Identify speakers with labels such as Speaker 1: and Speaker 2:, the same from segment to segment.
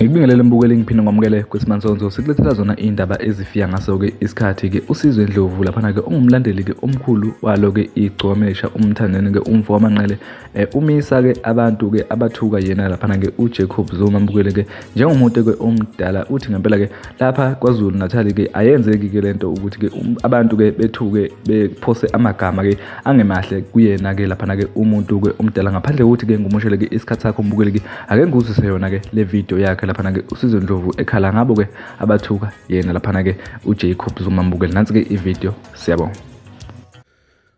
Speaker 1: Ngikubingelele mbukeli ngiphinde ngomukele kwesimansonzo sikulethela zona iy'ndaba ezifika ngaso-ke isikhathi-ke usizwe ndlovu laphana-ke ungumlandeli-ke omkhulu walo-ke igcomesha umthandeni-ke umfo wamanqele Eh, umisa ke abantu ke abathuka yena lapha ke uJacob Zuma mbukele ke njengomuntu ke omdala uthi ngempela ke lapha kwaZulu Natal ke ayenzeki ke lento ukuthi ke um, abantu ke bethuke bephose amagama ke angemahle kuyena ke lapha ke umuntu ke omdala ngaphandle kokuthi ke ngumushele ke isikhathi sakho mbukele ke ake ngikuzise yona ke le video yakhe lapha ke uSizwe Ndlovu ekhala ngabo ke abathuka yena lapha ke uJacob Zuma mbukele nansi ke i video siyabonga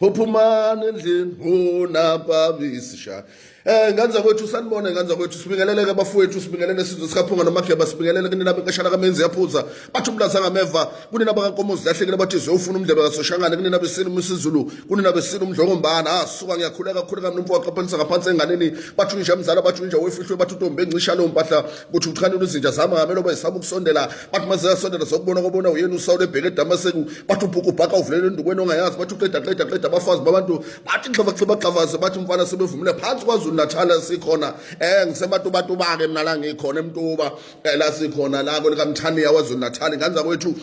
Speaker 2: Phophumani endlini unapabisisha Eh ngane zakwethu sanibona ngane zakwethu sibingelele ke bafowethu sibingelele sizwe sikaphunga nomageba sibingelele kunina benkashana kamenzi yaphuza bathi umlaza ngameva kunina bakankomo zilahlekile bathi ziyofuna umdlebe kasoshangane kunina besini umsizulu kunina besini umdlongombana asuka ah, ngiyakhuleka khuleka mnumfo waqaphelisa ngaphansi enganeni bathi unja mzala bathi unja wefihlwe bathi utombe encisha leyo mpahla kuthi uthanda uzinja zami ngamelo bayisaba ukusondela bathi uma ziyasondela sokubona kobona uyena usawule ebheke edamaseku bathi ubhuku ubhaka uvulele endukweni ongayazi bathi uqeda qeda qeda abafazi babantu bathi xhavaxhibaxhavaze bathi umfana sebevumile phansi kwazulu natal sikhona um ngisematubatuba-ke mna la ngikhona emtuba um la sikhona la kwelikamthaniya wazulu natal nganza kwethu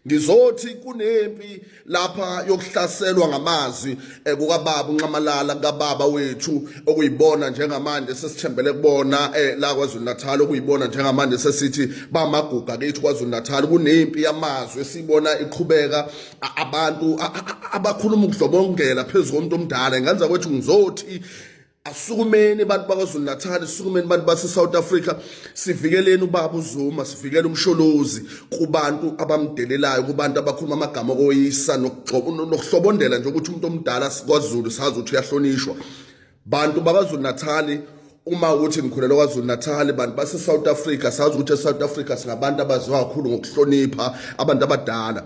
Speaker 2: Ngizothi kunempi lapha yokuhlaselwa ngamazwi eh, kukababa unxamalala kababa wethu okuyibona njengamanje sesithembele kubona eh, la KwaZulu Natal okuyibona njengamanje sesithi bamaguga kithi KwaZulu Natal kunempi yamazwi esibona iqhubeka abantu abakhuluma ukudlobongela phezulu komuntu omdala ngenza kwethu ngizothi Asukumeni abantu bakwaZulu Natal, sukumeni abantu base South Africa, sivikeleni ubaba uZuma, sivikele umsholozi kubantu abamdelelayo, kubantu abakhuluma amagama okoyisa nokuhlobondela nje ukuthi umuntu omdala kwaZulu sazi ukuthi uyahlonishwa. Bantu bakwaZulu Natal uma uthi ngikhulelwa KwaZulu Natal bantu base South Africa sazi ukuthi eSouth Africa singabantu abaziwa kakhulu ngokuhlonipha abantu abadala.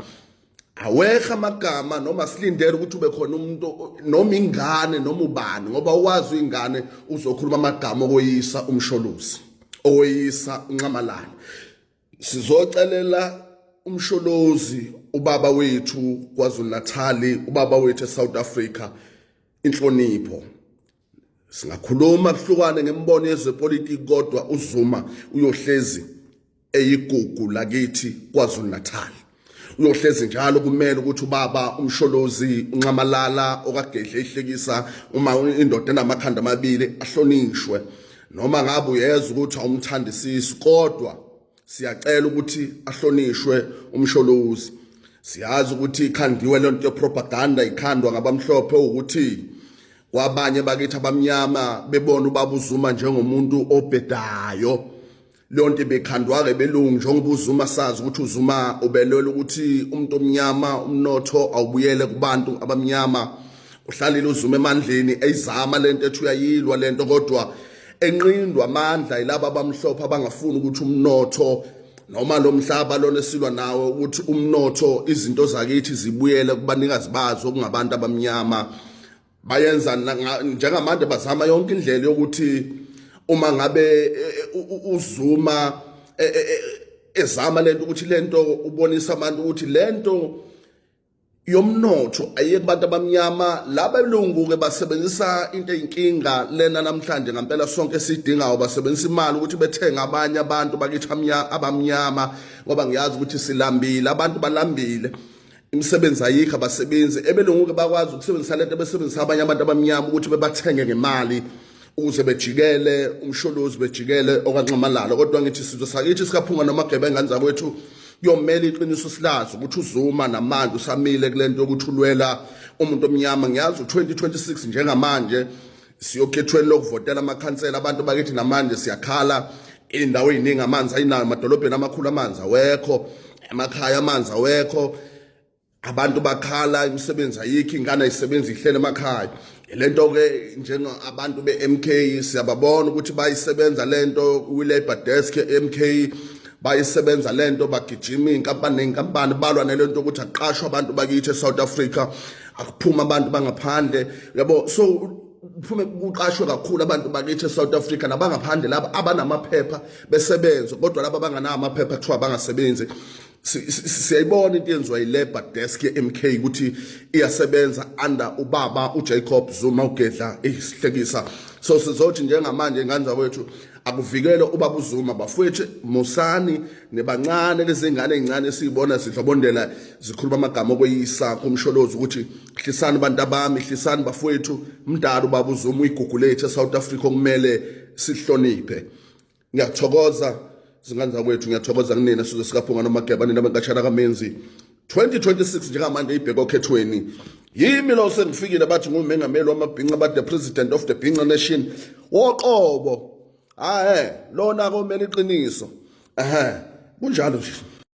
Speaker 2: aweha amagama noma silindele ukuthi ube khona umuntu noma ingane noma ubani ngoba uwazi ingane uzokhuluma amagama okoyisa umsholozi okoyisa unxamalala sizocelela umsholozi ubaba wethu KwaZulu-Natali ubaba wethu eSouth Africa inhlonipho singakhuluma kuhlukane ngemibono yezepolitiki kodwa uZuma uyohlezi eyigugu lakithi KwaZulu Natal uyohlezi njalo kumele ukuthi ubaba umsholozi unxamalala okagedle ihlekisa uma indoda enamakhanda amabili ahlonishwe noma ngabe uyeza ukuthi awumthandisisi kodwa siyacela ukuthi ahlonishwe umsholozi siyazi ukuthi ikhandiwe le nto yepropaganda ikhandwa ngabamhlophe ukuthi kwabanye bakithi abamnyama bebona ubaba uzuma njengomuntu obhedayo leyo nto ibekhandwa-ke belungu njengoba uzuma sazi ukuthi uzuma ubelwela ukuthi umuntu omnyama umnotho awubuyele kubantu abamnyama uhlalile uzuma emandleni eyizama le nto ethi uyayilwa le nto kodwa enqindwa amandla yilaba abamhlophe abangafuni ukuthi umnotho noma lo mhlaba lona esilwa nawo ukuthi umnotho izinto zakithi zibuyele kubanikazi bazo kungabantu abamnyama bayenza njengamanje bazama yonke indlela yokuthi uma ngabe e, e, uzuma e, ezama lento ukuthi lento ubonisa abantu ukuthi lento yomnotho ayiye kubantu abamnyama laba belungu-ke basebenzisa into eyinkinga lena namhlanje ngampela sonke esidingayo basebenzisa imali ukuthi bethenge abanye abantu bakithi abamnyama ngoba ngiyazi ukuthi silambile abantu balambile imisebenzi ayikho abasebenzi ebelungu-ke bakwazi ukusebenzisa lento besebenzisa abanye abantu abamnyama ukuthi bebathenge ngemali ukuze bejikele umsholozi bejikele okanxamalala kodwa ngithi sizwe sakithi sikaphunga nomagebenga ingane zakwethu kuyomele iqiniso silazi ukuthi uzuma namanje usamile kule nto yokuthi ulwela umuntu omnyama ngiyazi u-2026 njengamanje siyokhethweni lokuvotela amakhansela abantu bakithi namanje siyakhala indawo eziningi amanzi ayinayo emadolobheni amakhulu amanzi awekho emakhaya amanzi awekho abantu bakhala imisebenzi ayikho ingane ayisebenzi ihlele emakhaya lento ke njenga abantu beMK siyababona ukuthi bayisebenza lento kwi labor desk eMK bayisebenza lento bagijima inkampani nenkampani balwa nelento ukuthi aqashwe abantu bakithi eSouth Africa akuphuma abantu bangaphandle yabo so kuphume kuqashwe kakhulu abantu bakithi eSouth Africa nabangaphandle laba abanamaphepha besebenza kodwa laba abanganawo amaphepha kuthiwa bangasebenzi siyayibona into yenziwa yilabor desk ye-mk ukuthi iyasebenza under ubaba ujacob zuma ugedla isihlekisa so sizothi njengamanje ingane zakwethu akuvikele ubaba uzuma bafowethu musani nebancane lezingane ezincane esiyibona zidlobondela zikhuluma amagama okweyisa kumsholozi ukuthi hlisani abantu abami hlisani bafowethu mdala ubaba uzuma uyigugu lethu e-south africa okumele sihloniphe ngiyathokoza zingane zakwethu ngiyathokoza kunina sizwe sikaphunga nomageba nina benkatshana kamenzi 2026 njengamanje ibheke okhethweni yimi lo sengifikile bathi ngumengameli wamabhinca ba the president of the bhinca nation woqobo hahe lona komele iqiniso ehe kunjalo nje